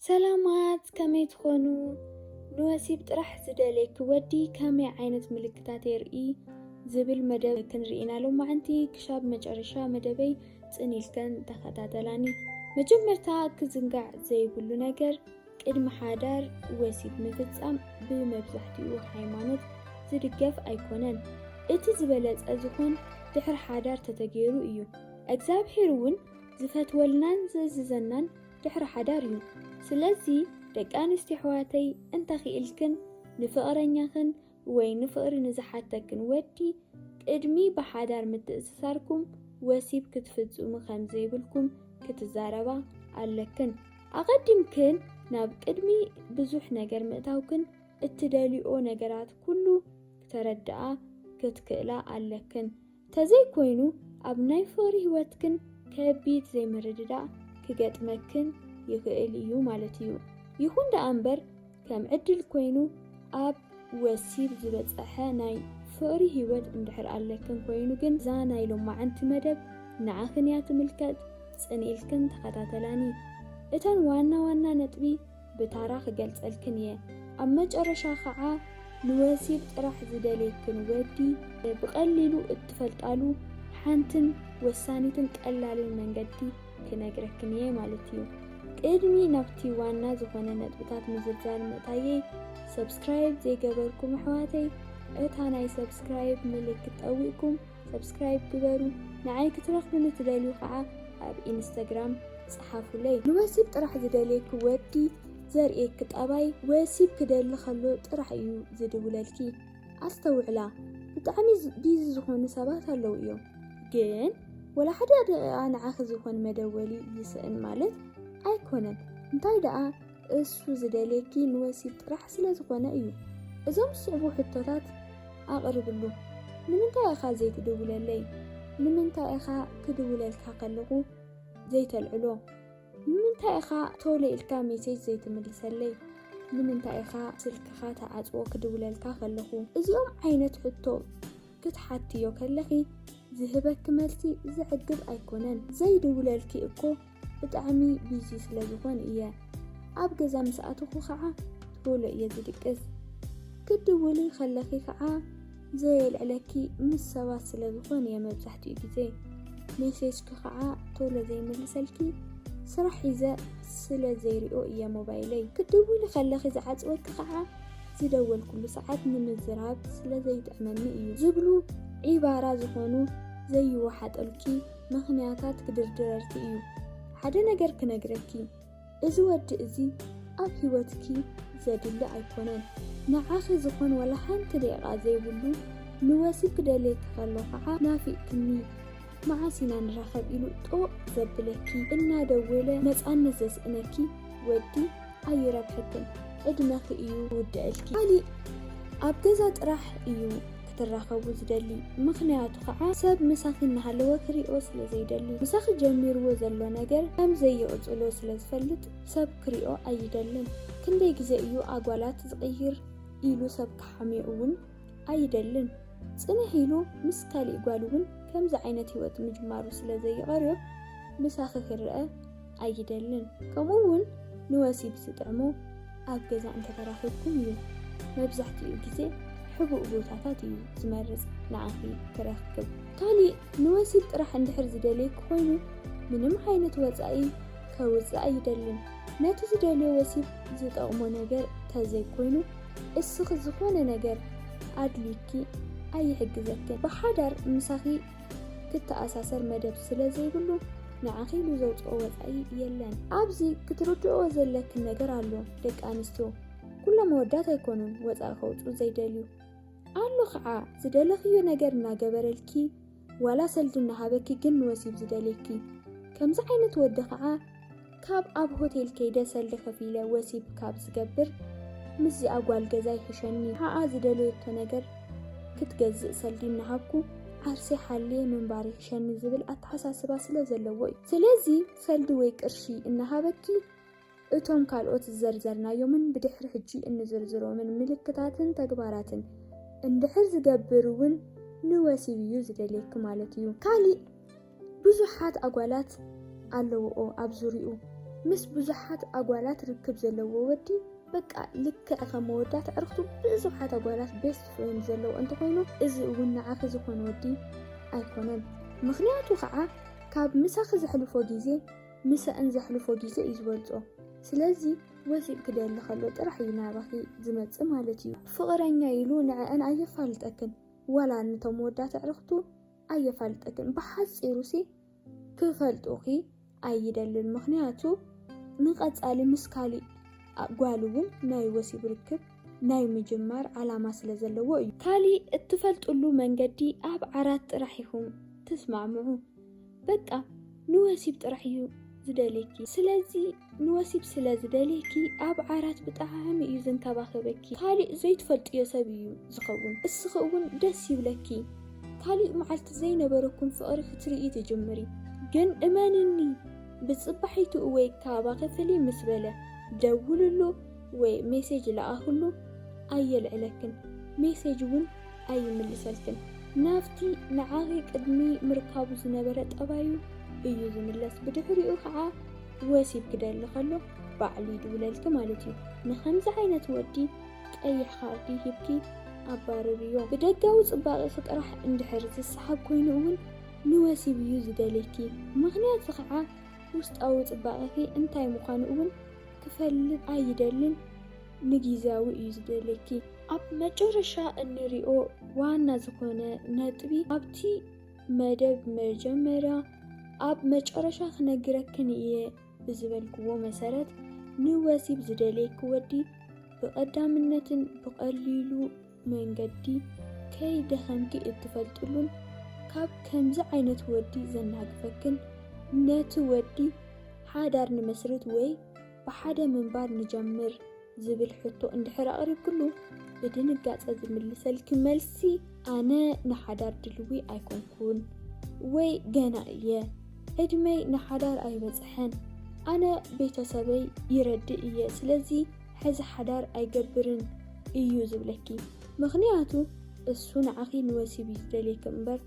ሰላማት ከመይ ትኾኑ? ንወሲብ ጥራሕ ዝደልየኪ ወዲ ከመይ ዓይነት ምልክታት የርኢ? ዝብል መደብ ክንርኢና ሎማዕንቲ ክሻብ መጨረሻ መደበይ ጽን ኢልከን ተኸታተላኒ። መጀመርታ ክዝንጋዕ ዘይብሉ ነገር ቅድሚ ሓዳር ወሲብ ምፍጻም ብመብዛሕትኡ ሃይማኖት ዝድገፍ ኣይኮነን። እቲ ዝበለጸ ዝኾን ድሕሪ ሓዳር ተተገይሩ እዩ። እግዚኣብሔር እውን ዝፈትወልናን ዝእዝዘናን ድሕሪ ሓዳር እዩ ስለዚ ደቂ ኣንስትዮ ኣሕዋተይ እንተኺእልክን ንፍቕረኛኽን ወይ ንፍቕሪ ንዝሓተክን ወዲ ቅድሚ ብሓዳር ምትእስሳርኩም ወሲብ ክትፍጽሙ ከም ዘይብልኩም ክትዛረባ ኣለክን። ኣቐዲምክን ናብ ቅድሚ ብዙሕ ነገር ምእታውክን እትደልይኦ ነገራት ኩሉ ክተረድኣ ክትክእላ ኣለክን። ተዘይ ኮይኑ ኣብ ናይ ፍቕሪ ህይወትክን ከቢድ ዘይምርድዳእ ክገጥመክን ይኽእል እዩ ማለት እዩ። ይኹን ደኣ እምበር ከም ዕድል ኮይኑ ኣብ ወሲብ ዝበጸሐ ናይ ፍቕሪ ህይወት እንድሕር ኣለክን ኮይኑ ግን እዛ ናይ ሎማዕንቲ መደብ ንዓኽን እያ ትምልከት ጽን ኢልክን ተኸታተላኒ እተን ዋና ዋና ነጥቢ ብታራ ክገልጸልክን እየ ኣብ መጨረሻ ከዓ ንወሲብ ጥራሕ ዝደልየክን ወዲ ብቀሊሉ እትፈልጣሉ ሓንትን ወሳኒትን ቀላልን መንገዲ ክነግረክን እየ ማለት እዩ ቅድሚ ናብቲ ዋና ዝኾነ ነጥብታት ምዝርዛር ምእታየይ ሰብስክራይብ ዘይገበርኩም ኣሕዋተይ እታ ናይ ሰብስክራይብ ምልክት ጠዊቅኩም ሰብስክራይብ ግበሩ ንዓይ ክትረኽቡኒ ትደልዩ ከዓ ኣብ ኢንስታግራም ፀሓፉለይ። ንወሲብ ጥራሕ ዝደልየኪ ወዲ ዘርእየኪ ጠባይ ወሲብ ክደሊ ከሎ ጥራሕ እዩ ዝድውለልኪ ኣስተውዕላ ብጣዕሚ ቢዚ ዝኾኑ ሰባት ኣለው እዮም ግን ወላ ሓደ ደቂቃ ንዓኺ ዝኾን መደወሊ ይስእን ማለት ኣይኮነን እንታይ ደኣ እሱ ዝደልየኪ ንወሲብ ጥራሕ ስለ ዝኾነ እዩ። እዞም ዝስዕቡ ሕቶታት ኣቕርብሉ። ንምንታይ ኢኻ ዘይትድውለለይ? ንምንታይ ኢኻ ክድውለልካ ከለኹ ዘይተልዕሎ? ንምንታይ ኢኻ ቶሎ ኢልካ ሜሴጅ ዘይትምልሰለይ? ንምንታይ ኢኻ ስልክኻ ተዓጽዎ ክድውለልካ ከለኹ? እዚኦም ዓይነት ሕቶ ክትሓትዮ ከለኺ ዝህበኪ መልሲ ዘዕግብ ኣይኮነን። ዘይድውለልኪ እኮ ብጣዕሚ ቢዚ ስለ ዝኾን እየ ኣብ ገዛ ምስ ኣተኹ ኸዓ ቶሎ እየ ዝድቅስ ክትድውሊ ከለኺ ኸዓ ዘየልዕለኪ ምስ ሰባት ስለ ዝኾን እየ መብዛሕትኡ ግዜ ሜሴጅኪ ኸዓ ቶሎ ዘይምልሰልኪ ስራሕ ሒዘ ስለ ዘይሪኦ እየ ሞባይለይ ክትድውሊ ከለኺ ዝዓፅወኪ ኸዓ ዝደወልኩሉ ሰዓት ንምዝራብ ስለ ዘይጥዕመኒ እዩ ዝብሉ ዒባራ ዝኾኑ ዘይወሓጠልኪ ምኽንያታት ክድርድረልኪ እዩ። ሓደ ነገር ክነግረኪ፣ እዚ ወዲ እዚ ኣብ ህይወትኪ ዘድሊ ኣይኮነን። ንዓኺ ዝኾን ዋላ ሓንቲ ደቂቓ ዘይብሉ፣ ንወሲብ ክደልየኪ ከሎ ከዓ ናፊቕክኒ፣ መዓስ ኢና ንራኸብ ኢሉ ጦቕ ዘብለኪ፣ እናደወለ ነፃነት ዘስእነኪ ወዲ፣ ኣይረብሐክን ዕድመኺ እዩ ዝውድዐልኪ ካሊእ ኣብ ገዛ ጥራሕ እዩ ክትራኸቡ ዝደሊ ምኽንያቱ ከዓ ሰብ ምሳኺ እናሃለወ ክሪኦ ስለ ዘይደሊ ምሳኺ ጀሚርዎ ዘሎ ነገር ከም ዘይቕፅሎ ስለ ዝፈልጥ ሰብ ክሪኦ ኣይደልን ክንደይ ግዜ እዩ ኣጓላት ዝቕይር ኢሉ ሰብ ክሓምዮ እውን ኣይደልን ፅንሕ ኢሉ ምስ ካሊእ ጓል እውን ከምዚ ዓይነት ህይወት ምጅማሩ ስለ ዘይቐርዮ ምሳኺ ክረአ ኣይደልን ከምኡ ውን ንወሲብ ዝጥዕሞ ኣብ ገዛ እንተተራኺብኩም እዩ መብዛሕትኡ ግዜ ሕቡእ ቦታታት እዩ ዝመርጽ ንዓኺ ክረክብ። ካሊእ ንወሲብ ጥራሕ እንድሕር ዝደልየኪ ኮይኑ ምንም ዓይነት ወጻኢ ከውጽእ ኣይደልን ነቲ ዝደልዮ ወሲብ ዝጠቕሞ ነገር ተዘይኮይኑ እስኺ ዝኾነ ነገር ኣድልዩኪ ኣይሕግዘክን ብሓዳር ምሳኺ ክተኣሳሰር መደብ ስለ ዘይብሉ ንዓኺ ኢሉ ዘውጽኦ ወጻኢ የለን። ኣብዚ ክትርድእኦ ዘለኪ ነገር ኣሎ ደቂ ኣንስትዮ ኩሎም ኣወዳት ኣይኮኑን ወጻኢ ከውጽኡ ዘይደልዩ ኣሎ ከዓ ዝደለኽዮ ነገር እናገበረልኪ ዋላ ሰልዲ እናሃበኪ ግን ንወሲብ ዝደልየኪ ከምዚ ዓይነት ወዲ ከዓ ካብ ኣብ ሆቴል ከይደ ሰልዲ ከፊለ ወሲብ ካብ ዝገብር ምስዚኣ ጓል ገዛ ይሕሸኒ ንሓኣ ዝደለየቶ ነገር ክትገዝእ ሰልዲ እናሃብኩ ዓርሰይ ሓልየ ምንባር ይሕሸኒ ዝብል ኣተሓሳስባ ስለ ዘለዎ እዩ። ስለዚ ሰልዲ ወይ ቅርሺ እናሃበኪ እቶም ካልኦት ዝዘርዘርናዮምን ብድሕሪ ሕጂ እንዝርዝሮምን ምልክታትን ተግባራትን እንድሕር ዝገብር እውን ንወሲብ እዩ ዝደልየኪ ማለት እዩ። ካሊእ ብዙሓት ኣጓላት ኣለውኦ ኣብ ዙርይኡ ምስ ብዙሓት ኣጓላት ርክብ ዘለዎ ወዲ በቃ ልክዕ ከም መወዳት ዕርክቱ ብዙሓት ኣጓላት ቤስት ፍሬንድ ዘለዎ እንተኾይኑ እዚ እውን ንዓኺ ዝኾነ ወዲ ኣይኮነን ምክንያቱ ከዓ ካብ ምሳኺ ዘሕልፎ ግዜ ምሰእን ዘሕልፎ ግዜ እዩ ዝበልፆ ስለዚ ወሲብ ክደሊ ከሎ ጥራሕ እዩ ናባኺ ዝመፅእ ማለት እዩ ፍቕረኛ ኢሉ ንዐአን ኣየፋልጠክን ዋላ ንቶም መወዳት ዕርክቱ ኣየፋልጠክን ብሓጺሩሲ ክፈልጡኺ ኣይደልን ምኽንያቱ ንቀጻሊ ምስ ካሊእ ጓል እውን ናይ ወሲብ ርክብ ናይ ምጅማር ዓላማ ስለ ዘለዎ እዩ። ካሊእ እትፈልጥሉ መንገዲ ኣብ ዓራት ጥራሕ ኢኹም ትስማዕምዑ በቃ ንወሲብ ጥራሕ እዩ ዝደልየኪ ስለዚ ንወሲብ ስለ ዝደልየኪ ኣብ ዓራት ብጣዕሚ እዩ ዝንከባኸበኪ ካሊእ ዘይትፈልጥዮ ሰብ እዩ ዝኸውን እስኺ እውን ደስ ይብለኪ ካሊእ መዓልቲ ዘይነበረኩም ፍቕሪ ክትርእዪ ትጅምሪ ግን እመንኒ ብፅባሒቱ እወይ ካባ ክፍሊ ምስ በለ ደውልሉ ወይ ሜሴጅ ለኣኽሉ ኣየልዕለክን ሜሴጅ እውን ኣይምልሰልክን ናብቲ ንዓኺ ቅድሚ ምርካቡ ዝነበረ ጠባዩ እዩ ዝምለስ ብድሕሪኡ ከዓ ወሲብ ክደሊ ከሎ ባዕሉ ይድውለልኪ ማለት እዩ ንከምዚ ዓይነት ወዲ ቀይሕ ካርዲ ሂብኪ ኣባርርዮ ብደጋዊ ፅባቕኺ ጥራሕ እንድሕር ዝሰሓብ ኮይኑ እውን ንወሲብ እዩ ዝደልየኪ ምክንያቱ ከዓ ውስጣዊ ፅባቕኺ እንታይ ምዃኑ እውን ክፈልጥ ኣይደልን ንጊዚያዊ እዩ ዝደልየኪ። ኣብ መጨረሻ እንሪኦ ዋና ዝኾነ ነጥቢ ኣብቲ መደብ መጀመርያ ኣብ መጨረሻ ክነግረክን እየ ብዝበልክዎ መሰረት ንወሲብ ዝደልየኪ ወዲ ብቐዳምነትን ብቐሊሉ መንገዲ ከይደኸምኪ እትፈልጥሉን ካብ ከምዚ ዓይነት ወዲ ዘናግፈክን ነቲ ወዲ ሓዳር ንመስርት ወይ ብሓደ ምንባር ንጀምር ዝብል ሕቶ እንድሕር ኣቕሪብክሉ ብድንጋጸ ዝምልሰልኪ መልሲ ኣነ ንሓዳር ድልዊ ኣይኮንኩን ወይ ገና እየ ዕድመይ ንሓዳር ኣይበጽሐን ኣነ ቤተሰበይ ይረድእ እየ ስለዚ ሕዚ ሓዳር ኣይገብርን እዩ ዝብለኪ ምኽንያቱ እሱ ንዓኺ ንወሲብ እዩ ዝደልየኪ እምበር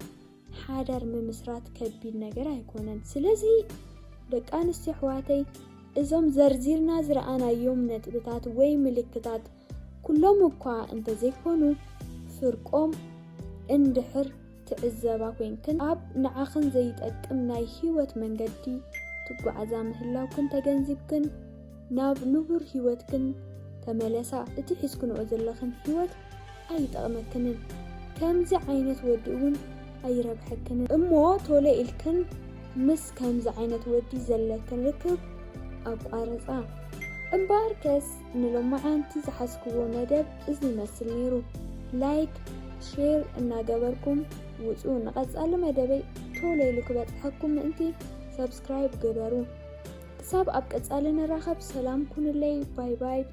ሓዳር ምምስራት ከቢድ ነገር ኣይኮነን። ስለዚ ደቂ ኣንስትዮ ኣሕዋተይ እዞም ዘርዚርና ዝረኣናዮም ነጥብታት ወይ ምልክታት ኩሎም እኳ እንተዘይኮኑ ፍርቆም እንድሕር ትዕዘባ ኮንክን ኣብ ንዓኽን ዘይጠቅም ናይ ህይወት መንገዲ ትጓዓዛ ምህላውክን ተገንዚብክን ናብ ንቡር ህይወትክን ተመለሳ እቲ ሒዝክንኦ ዘለኽን ህይወት ኣይጠቕመክንን ከምዚ ዓይነት ወዲ እውን ኣይረብሐክንን እሞ ቶሎ ኢልክን ምስ ከምዚ ዓይነት ወዲ ዘለክን ርክብ ኣቋርጻ። እምበኣርከስ ንሎማዓንቲ ዝሓዝክዎ መደብ እዚ ይመስል ነይሩ ላይክ ሼር እናገበርኩም ውጹ ንቐጻሊ መደበይ ቶሎ ኢሉ ክበጽሐኩም ምእንቲ። ሰብስክራይብ ግበሩ። ክሳብ ኣብ ቀጻሊ ንራኸብ ሰላም ኩኑለይ ባይ ባይ።